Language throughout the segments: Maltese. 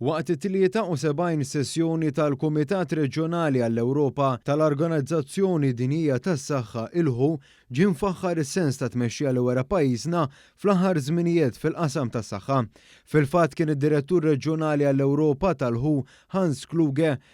Waqt it-73 sessjoni tal-Kumitat Reġjonali għall-Ewropa tal-Organizzazzjoni Dinjija tas-Saħħa, il-who, ġie mfaħħar is-sens ta' tmexxija li wera pajjiżna fl-aħħar żminijiet fil-qasam tas-saħħa. Fil-fatt kien id-Direttur Reġjonali għall-Ewropa tal-who, Hans Kluge,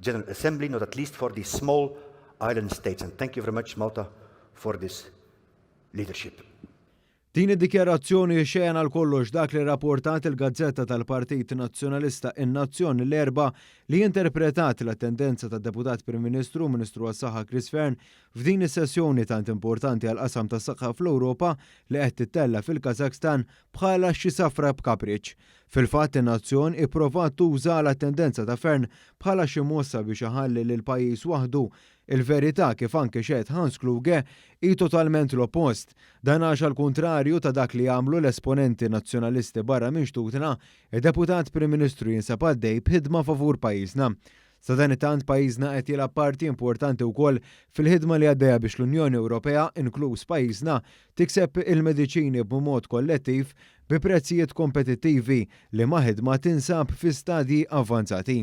General Assembly, not at least for these small island states. And thank you very much, Malta, for this leadership. Din id-dikjarazzjoni xejn għal kollox dak li rapportat il-gazzetta tal-Partit Nazzjonalista in-Nazzjon l-erba li interpretat l-attendenza tad deputat Prim Ministru u Ministru għas-Saħħa Chris Fern f'din is-sessjoni tant importanti għal qasam tas-saħħa fl-Ewropa li qed tittella fil-Kazakhstan bħala xi safra b'kapriċċ. Fil-fatt, in-nazzjon ipprovat tuża għala tendenza ta' Fearne bħala xi mossa biex iħalli lill-pajjiż waħdu. Il-verità, kif anke xehed Hans Kluge, hi totalment l-oppost. Dan għax għall-kuntrarju ta' dak li għamlu l-esponenti Nazzjonalisti barra minn xtutna, id-Deputat Prim Ministru jinsab għaddej b'ħidma favur pajjiżna. Sadanittant, pajjiżna qed jilgħab parti importanti wkoll fil-ħidma li għaddejja biex l-Unjoni Ewropea, inkluż pajjiżna, tikseb il-mediċini b'mod kollettiv bi prezzijiet kompetittivi liema ħidma tinsab fi stadji avvanzati.